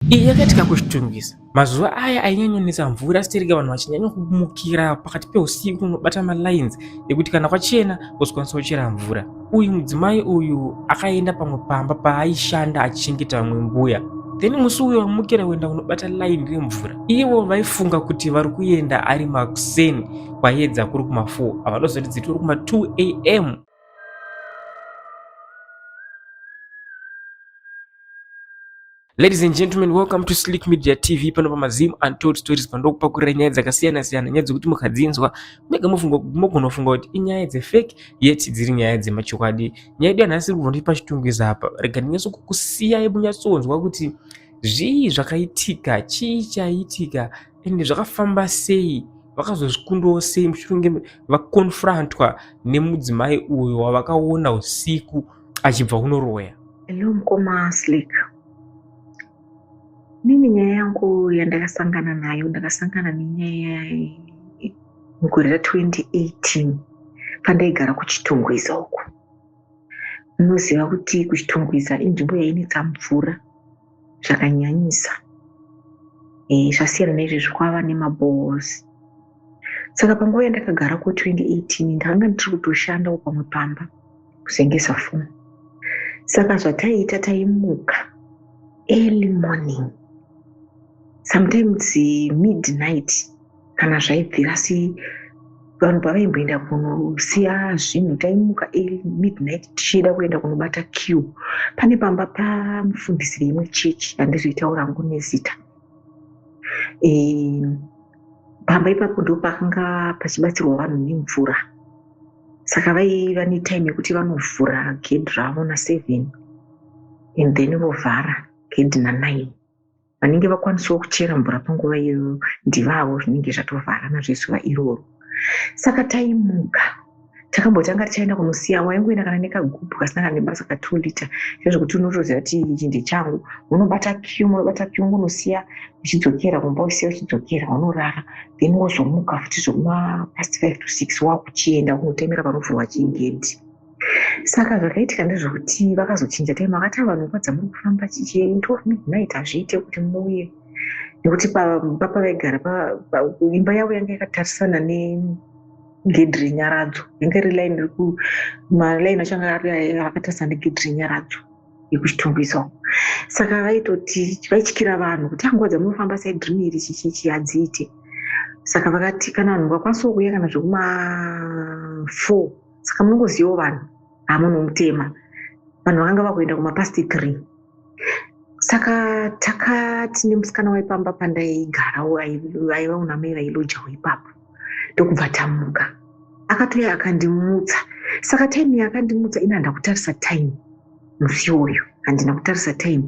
Iyi yakaitika kuchitungisa mazuva aya ainyanyonetsa mvura sitereka vanhu vachinyanya kumukira pakati peusiku unobata malines ekuti kana kwachena wozokwanisa kuchera mvura uyu mudzimai uyu akaenda pamwe pamba paaishanda achichengeta vamwe mbuya then musi uyo wamukira kuenda kunobata line remvura ivo vaifunga kuti vari kuenda ari makuseni kwayedza kuri kuma4 havadozoti dziti uri kuma2 am Ladies and gentlemen, welcome to Slick Media TV. Pano pa Mazim Untold Stories pandokupakurira nyaya dzakasiyana siyana, nyaya dzekuti mukadzinzwa mega mofunga mogona kufunga kuti inyaya dze fake yet dziri nyaya dzemachokwadi. Nyaya yedu yanhasi iri kubva pachitungwiza apa. Rega ndinyaso kukusiyai munyatsonzwa kuti zvii zvakaitika, chii chaitika ende zvakafamba sei vakazozvikundawo sei mushure vakonfrontwa nemudzimai uyo wavakaona usiku achibva kunoroya hello mukoma slik nini nyaya yangu yandakasangana nayo ndakasangana nenyaya mugore ra 2018 pandaigara kuchitungwiza uku munoziva kuti kuchitungwiza inzvimbo yainetsa mvura zvakanyanyisa eh, zvasiyana neizvezvi kwava nemabohos saka panguva yandakagara ku 2018 ndakanga ndiri kutoshandawo pamwe pamba kuzengesa foni saka zvataiita taimuka early morning sometimes midnight kana zvaibvira si vanhu pavaimboenda kunosiya zvinhu taimuka midnight tichiida kuenda kunobata q pane pamba pamufundisi veimwe chechi handizoitaura ngo nezita e, pamba ipapo ndo pakanga pachibatsirwa vanhu nemvura saka vaiva netime yekuti vanovhura gedhi ravo naseven and then vovhara gedhi nanine vanenge vakwanisawo kuchera mvura panguva iyoyo ndivavo zvinenge zvatovharana zvezuva iroro saka taimuka takambotanga tichaenda kunosiya waingoenda kana nekagubhu kasina kana nebasa ka two liter zvezvekuti unotoziva kuti ichi ndechangu unobata q unobata q unosiya uchidzokera kumba usiya uchidzokera unorara then wozomuka futi zvekuma past five to six wakuchienda kunotemera panovhurwa chigedhi saka zvakaitika ndezvekuti vakazochinja time vakati vanhu nguva dzamuri kufamba chichie into of midnight hazviite kuti muuye nekuti papavaigara imba yavo yanga yakatarisana negedhi renyaradzo yanga iri line reku malaini acho anga akatarisana negedhi renyaradzo yekuchitungwisa uko saka vaitoti vaityira vanhu kuti anguva ah, dzamunofamba saidrini iri chichichi hadziite saka vakati kana vanhu vakwanisa kuuya kana zvekuma four saka munongozivawo vanhu hamunomutema vanhu vakanga vakuenda kumapast three saka takati nemusikana waipamba pandaigara aiva unamai vailojawo ipapo ndokubva tamuka akatouya akandimutsa saka time yaakandimutsa ini handakutarisa time musi uyu handina kutarisa time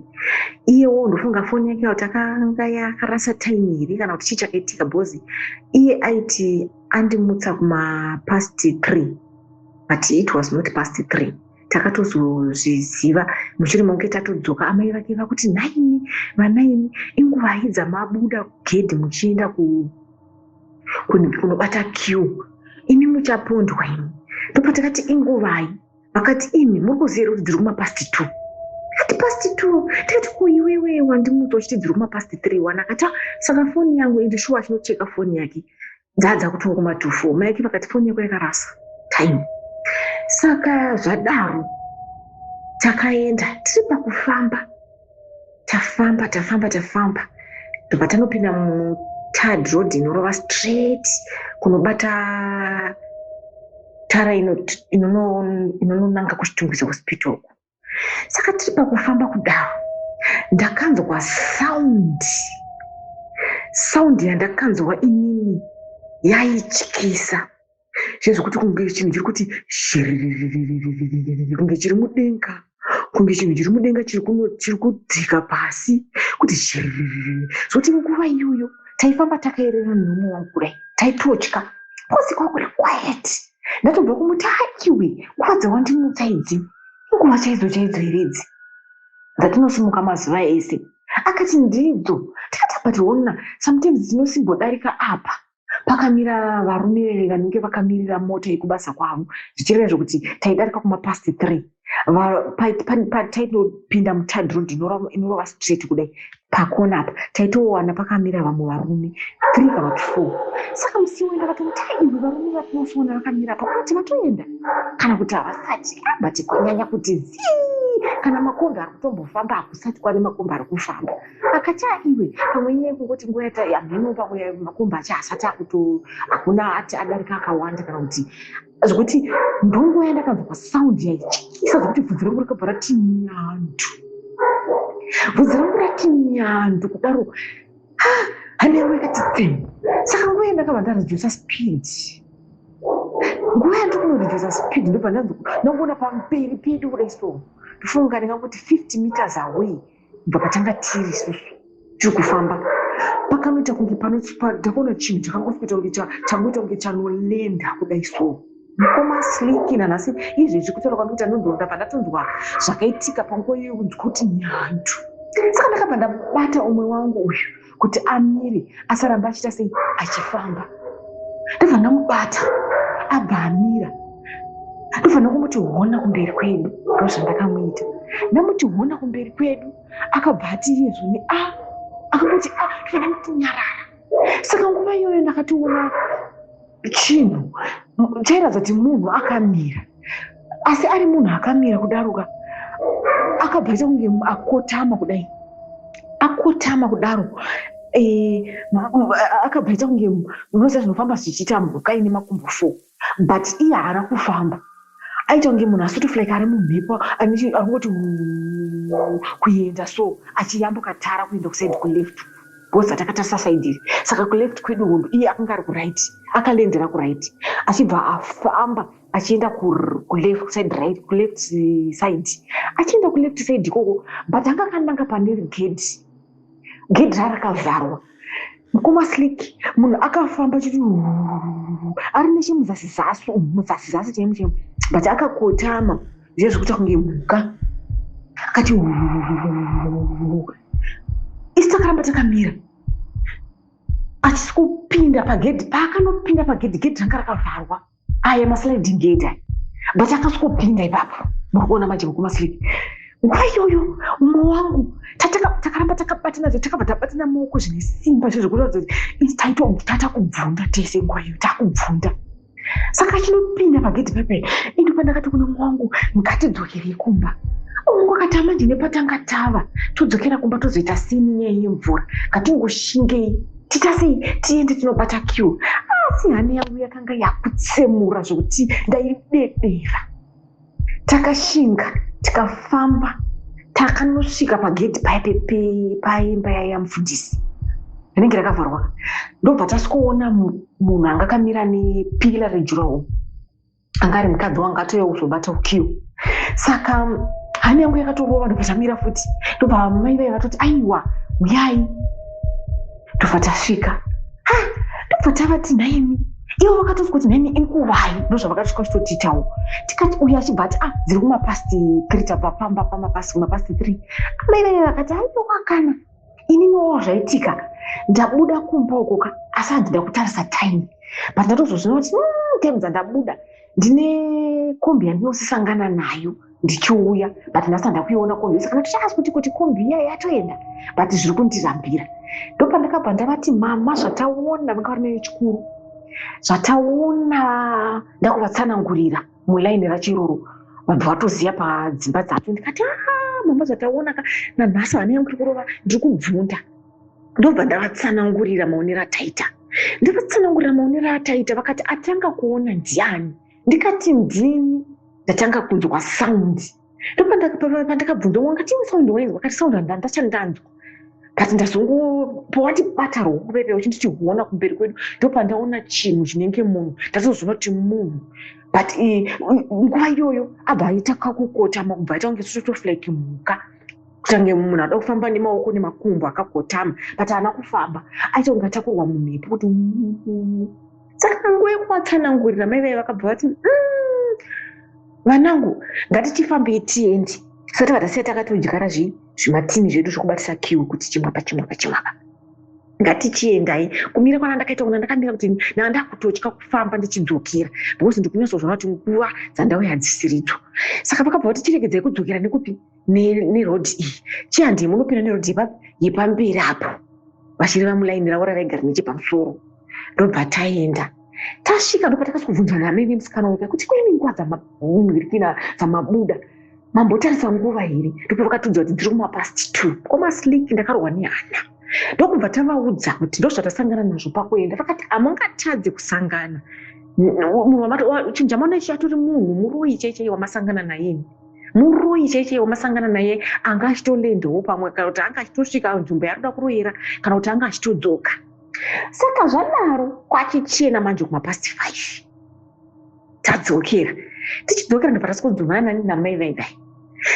iyewo ndofunga foni yake kuti akanga yakarasa time here kana kuti chii chakaitika bhozi iye aiti andimutsa kumapast three but it was not past three takatozozviziva mushure maunge tatodzoka amai vake vakuti nhaimi vanaimi inguvai dzamabuda kugedhi muchienda kunobata q imi muchapondwa imi ndopatakati inguvai vakati imi muri kuziva here kuti dziri kumapast two ati past two tikati ko iwewe wandimudza uchiti dziri kumapast three one akati ah, saka foni yangu ende shuwa achinocheka foni yake dzaadza kutova kuma two four maike vakati foni yako yakarasa time saka zvadaro takaenda tiri pakufamba tafamba tafamba tafamba tobva tanopinda mutard road inorova straight kunobata tara inononanga kuchitungwiza hospital uku saka tiri pakufamba kudaro ndakanzwa sound sound yandakanzwa inini yaityisa zviya zvekuti kunge chinhu chiri kuti shiriririririririri kunge chiri mudenga kunge chinhu chiri mudenga chiri kuno- chiri kudzika pasi kuti shiririririri zoti nguva iyoyo taifamba takaerera nhumwe vangu kudai taitotya kosi kwakuri quiet ndatobva kumuti haiwe nguva dzawandimutsa idzi inguva chaidzo chaidzo here idzi dzatinosimuka mazuva ese akati ndidzo tikati but hona sometimes dzinosimbodarika apa pakamira varume vanenge vakamirira mota yekubasa kwavo zvichireva zvekuti taidarika kumapast three taitopinda mutad road inorova straight kudai pakona apa taitowana pakamira vamwe varume three kana kuti four saka musi wenda vatomutaiwe varume vatinosoona vakamira apa kuti vatoenda kana kuti havasati abati ah, kwanyanya kuti zii kana makombi ari kutombofamba hakusati kwari makombi ari kufamba akachaa iwe pamwe inyaya kungoti nguva yata hameno pamwe makomba acha asati akuto hakuna ati adarika akawanda kana kuti zvekuti ndonguva yandakanzwa pasound yaityisa zvekuti bvudzi rangu rakabva rati nyandu bvudzi rangu rati nyandu kudaro ah, hanengu yakati tsen saka nguva yandakabva ndaredusa speed nguva yandikunoredusa speed ndobva ndanzwa ndangoona pamperi pedu kudai so ndofunga ndinga kuti 50 meters away kubva patanga tiri isusu tiri kufamba pakanoita kunge panodakuona chinhu chakangosikuita kunge changoita kunge chanolenda kudai so mukoma sliki nanhasi izvezvi kutaura kwandi kuti anondonda pandatonzwa zvakaitika panguva iyoyo kunzwa kuti nyandu saka ndakabva ndabata umwe wangu uyu kuti amire asaramba achiita sei achifamba ndobva ndamubata abva amira ndofanira kumuti hona kumberi kwedu ndo zvandakamuita ndamuti hona kumberi kwedu akabva ati iye zvoni a ah, akangoti a ah, ndofana kutinyarara saka nguva iyoyo ndakationa chinhu chairatidza kuti munhu akamira asi ari munhu akamira kudaroka akabva aita kunge akotama kudai akotama kudaro eh, akabva aita kunge munoziva zvinofamba zvichiita mhuka ine makumbo four but iye haana kufamba aita kunge munhu asotofla like ari mumhepo arikungoti kuenda so achiyambuka tara kuenda kusaidi kuleft bcause atakatarisa saidi iri saka kuleft kwedu hondo iye akanga ari kuright akalendera kuright achibva afamba achienda kuleft side right kuleft side achienda kuleft side ikoko but anga akananga pane gedhi gedhi rarakavharwa kumaslik munhu akafamba chiti ari nechemuzasi zasi muzasi zasi chemu chemu but akakotama zviya zvekuita kunge mhuka akati isi takaramba takamira achisi kupinda pagedhi paakanopinda pagedhi gedhi ranga rakavharwa aya masliding gate aya but akasvikopinda ipapo muri kuona manje vekumaslidi nguva iyoyo umwe wangu takaramba takabatana zve takabva tabatana maoko zvine simba zve zvekuratidza kuti taitotata kubvunda tese nguva iyoyo takubvunda saka achinopinda pagedhi pepe indi pandakati kune mwangu ngatidzokere kumba mungu akati amanje nepatanga tava todzokera kumba tozoita sini nyaya yemvura ngatingoshingei tita sei tiende tinobata q asi hana yangu yakanga yakutsemura zvokuti ndaidedera takashinga tikafamba takanosvika pagedhi paye paimba yaye yamufundisi rinenge rakavharwa ndobva tasikoona munhu anga akamira nepila rejurawo anga ari mukadzi wangu atouya kuzobata ukiyo saka hana yangu yakatorova ndobva tamira futi ndobva mai vaye vatoti aiwa uyai ndobva tasvika ha ndobva tavati nhaimi ivo vakatoti kuti nhaimi inguvai ndozvavakasvika vachitotitawo tikati uya achibva ati ah dziri kumapasti three tabva pamba pamapasti kumapasti three amai vaye vakati aiwa kana ini nowo zvaitika ndabuda kumba ukoka asi hanzi ndakutarisa time but ndatozozvina kuti mm, time dzandabuda ndine kombi yandinosisangana nayo ndichiuya but ndasa ndakuiona kombi saka ndatochaasi kuti kuti kombi iya yatoenda but zviri kundirambira ndopandakabva ndavati mama zvataona vanga vari nayo chikuru zvataona ndakuvatsanangurira mulaini rachiruru vanhu vatoziva padzimba dzacho ndikati ah, mama zvataona ka nanhasi vana yangu iri kurova ndiri kubvunda ndobva ndavatsanangurira maonero ataita ndavatsanangurira maonero ataita vakati atanga kuona ndiani ndikati ndini ndatanga kunzwa saundi ndopandakabvunza wanga chii sound wainzwa kati sound handandachandanzwa but ndazongopowa tibata rwokupepea uchiti tihuona kumberi kwedu ndopandaona chinhu chinenge munhu ndatozoona kuti munhu but nguva iyoyo abva aita kakukotama kubva aita kunge sotoflike mhuka kutange munhu anoda kufamba nemaoko nemakumbo akakotama but haana kufamba aita kunge atakurwa mumhepo kuti saka nguva yekuvatsanangurira mai vaive vakabva vati mm, vanangu ngatichifambei tiende tisati vatasiya takatodyara zvimatini zvedu zvekubatisa kiu kuti chimwa pachimwa pachimwa pa ngatichiendai kumira kwana ndakaita kuna ndakamira kuti naa ndakutotya kufamba ndichidzokera because ndikunyatsozoona kuti nguva dzandauya hadzisiridzo saka vakabva vati chiregedzai kudzokera nekupi nerodhi iyi chii handii munopinda nerodhi yepamberi apo vachireva mulaini ravo ravaigara nechepamusoro ndobva taenda tasvika ndopatakazobvunzwa namene musikana weka kuti kune nguva dzamabirikina dzamabuda mambotarisa nguva here ndopavakatiudza kuti dziri kumapast two komaslik ndakarohwa nehana ndokubva tavaudza kuti ndozvatasangana nazvo pakuenda vakati hamungatadze kusangana munhu chinjamano ichi atori munhu muroyi chaichaiye wamasangana nayeni muroyi chaichei wamasangana naye anga achitolendewo pamwe kana kuti anga achitosvika nzvimbo yaanoda kuroyera kana kuti anga achitodzoka saka zvadaro kwachichena manje kumapast five tadzokera tichidzokera ndopatasikudzomanani namai vaivai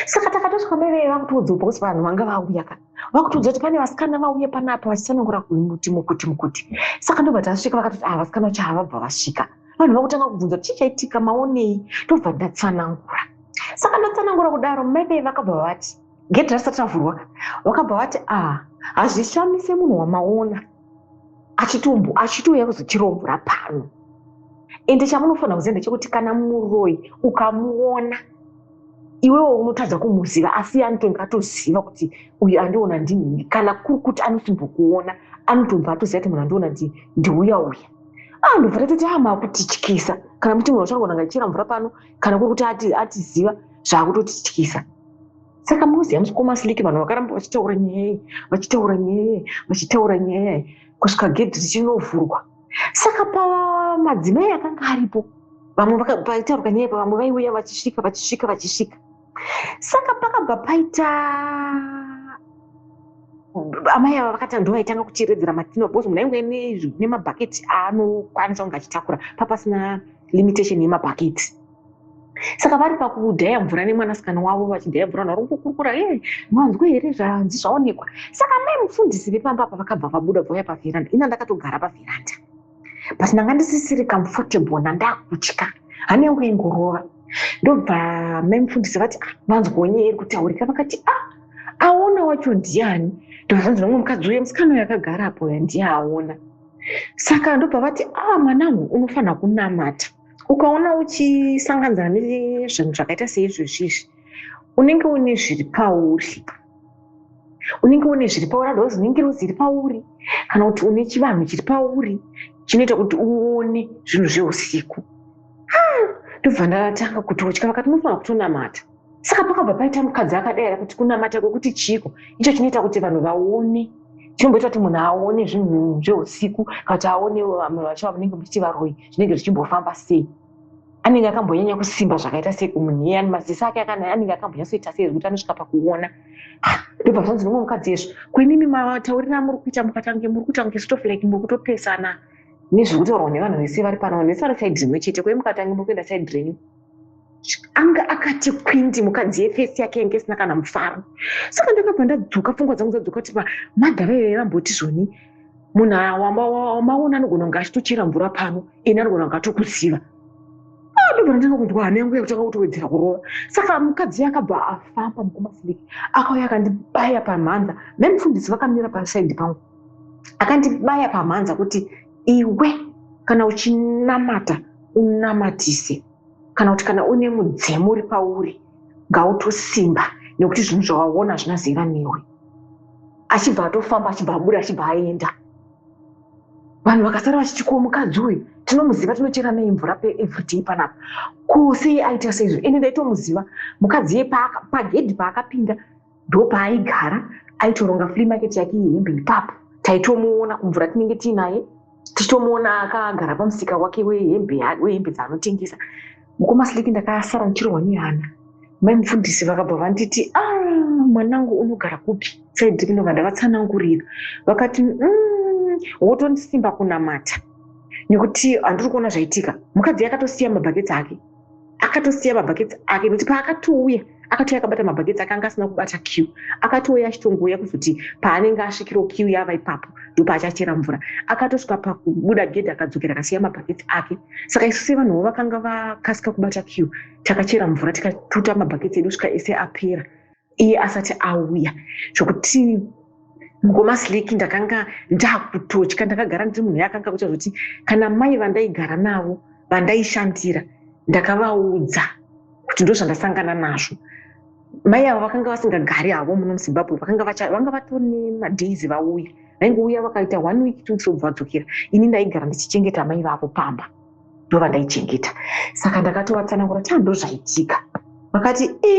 saka takatosvika mai vaiva kutoudzopa kuti vanhu vanga vauya kana vakutiudza kuti pane vasikana vauye panapa vachitsanangura kuti mukuti mukuti saka ndobva tasvika vakatoti ah vasikana vacho havabva vasvika vanhu vakutanga kubvunza kuti chii chaitika maonei ndobva ndatsanangura saka ndatsanangura kudaro maibei vakabva vati gedhi rasati ravhurwa vakabva vati ah hazvishamise munhu wamaona achitumbu achitouya kuzotirombora pano ende chamunofanira kuziva ndechekuti kana muroyi ukamuona iwewo unotadza kumuziva asi anotonge atoziva kuti uyu andiona ndinini kana kuri kuti anosimbokuona anotonge atoziva kuti munhu andiona ndi ndiuya uya ah ndobva tatoti ah maakutityisa kana muti munhu wachangonanga ichera mvura pano kana kuri kuti atiziva zvaakutotityisa saka moziva musikoma siliki vanhu vakaramba vachitaura nyaya iyi vachitaura nyaya iyi vachitaura nyaya iyi kusvika gedhi richinovhurwa saka pamadzimai akanga aripo vamwe paitaurwa nyaya pavamwe vaiuya vachisvika vachisvika vachisvika saka pakabva paita amai ava vakati ndo vaitanga kucheredzera matino bcause munhu ainge nemabhaketi aanokwanisa kunge achitakura papasina limitation yemabhaketi saka vari pakudhaya mvura nemwanasikana wavo vachidhaya mvura naro kukurukura e eh, manzwe here zvanzi zvaonekwa saka mai mufundisi vepamba apa vakabva vabuda vauya pavheranda ina ndakatogara pavheranda but ndanga ndisisiri comfortable nandakutya hane yangu ingorova ndobva mai mufundisi vati ah, manzwonye iri kutaurika vakati a ah, aona wacho ndiani ndobva zvanzi nomwe mukadzi uye musikana uyo akagara apo uya ndiye aona saka ndobva vati a ah, mwanangu unofanira kunamata ukaona uchisanganzana nezvinhu zvakaita seizvozvi izvi unenge une zviri pauri unenge une zviri pauri otherwise unenge ruzi iri pauri kana kuti une chivanhu chiri pauri chinoita kuti uone zvinhu zveusiku ah, ndobva ndatanga kutotya vakati munofanira kutonamata saka pakabva paita mukadzi akadaira kuti kunamata kwekuti chiiko icho chinoita kuti vanhu vaone chinomboita kuti munhu aone zvinhu zveusiku kana kuti aonewo vamwe vacho vamunenge muchiti varoyi zvinenge zvichimbofamba sei anenge akambonyanya kusimba zvakaita sei kumunhu iye maziso ake anenge akambonyatsoita sei zvekuti anosvika pakuona ah, ndobva zvanzi nomwe mukadzi yezvo kuimimi mataurira amuri kuita mukatange muri kuita kunge stof like muri kutopesana nezvekutaurwa nevanhu vese vari pano vanhu vese vari saidi rimwe chete kwei mukatange muri kuenda saidi renyu anga akati kwindi mukadzi yefesi yake yange isina kana mufaro saka ndakabva ndadzoka pfungwa dzangu dzadzoka kuti pamadha vaive vamboti zvoni munhu awamaona anogona kunge achitochera mvura pano ini anogona kunge atokuziva ah, ndobva ndanga kunzwa hana yangu yakutanga kutowedzera kurova saka mukadzi akabva afamba mukumasiliki akauya akandibaya pamhanza mhe mufundisi vakamira pasaidi pangu akandibaya pamhanza kuti iwe kana uchinamata unamatise kana kuti kana une mudzimu uri pauri ngautosimba nekuti zvinhu zvawaona zvina zera newe achibva atofamba achibva abuda achibva aenda vanhu vakasara vachiti ko mukadzi uyu tinomuziva tinochera nei mvura peevriday panapa ko sei aita seizvo ende ndaitomuziva mukadzi ye pagedhi paakapinda ndopaaigara aitoronga free market yake yehembe ipapo taitomuona kumvura tinenge tiinaye tichitomuona akagara pamusika wake wehembe dzaanotengesa mukoma sliki ndakasara ndichirohwa nehana mai mufundisi vakabva vanditi a ah, mwanangu unogara kupi saidi kunova ndavatsanangurira vakati mm, wotondisimba kunamata nekuti handiri kuona zvaitika mukadzi yakatosiya mabhaketsi ake akatosiya mabhaketsi ake nekuti paakatouya akatouya akabata mabhaketsi akanga asina kubata q akatouya achitongouya kuzoti paanenge asvikirawo q yava ipapo ndopaachachera mvura akatosvika pakubuda gedhi akadzokera akasiya mabhaketsi ake saka isu sevanhuwo vakanga vakasika kubata q takachera mvura tikatuta mabhaketsi edu svika ese apera iye asati auya zvokuti mukoma sleki ndakanga ndakutotya ndakagara ndiri munhu yakanga kuita zvokuti kana mai vandaigara navo vandaishandira ndakavaudza kuti ndozvandasangana nazvo mai avo vakanga vasingagari havo muno muzimbabwe vakanga vanga vatone madays vauya vaingouya vakaita one week two weeks vobva vadzokera ini ndaigara ndichichengeta mai vavo pamba ndovandaichengeta saka ndakatovatsanangura taa ndozvaitika vakati e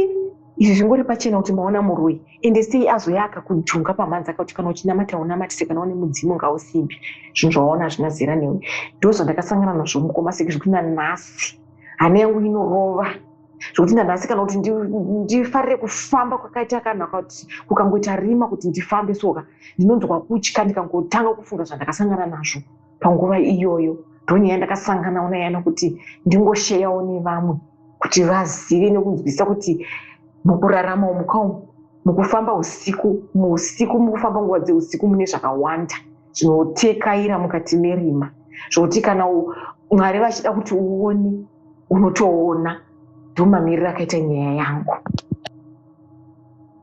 izvi zvingori pachena kuti maona muroi ende sei azoya akakujunga pamhanzi akakuti kana uchinamata unamatise kana une mudzimu ngausimbi zvinhu zvawaona hazvina zera newe ndozvandakasangana nazvo mukoma seki zvekuti nanhasi hana yangu inorova zvekuti nanhasi kana kuti ndifarire kufamba kwakaita kana kuti kukangoita rima kuti ndifambe soka ndinonzwa kutya ndikangotanga kufunga zvandakasangana nazvo panguva iyoyo ndonyaya ndakasanganawo nayo nokuti ndingosheyawo nevamwe kuti vazive nekunzwisisa kuti mukurarama umuka umu mukufamba usiku muusiku mukufamba nguva dzeusiku mune zvakawanda zvinotekaira mukati merima zvokuti kana mwari vachida kuti uone unotoona ndomamiriro akaita nyaya yangu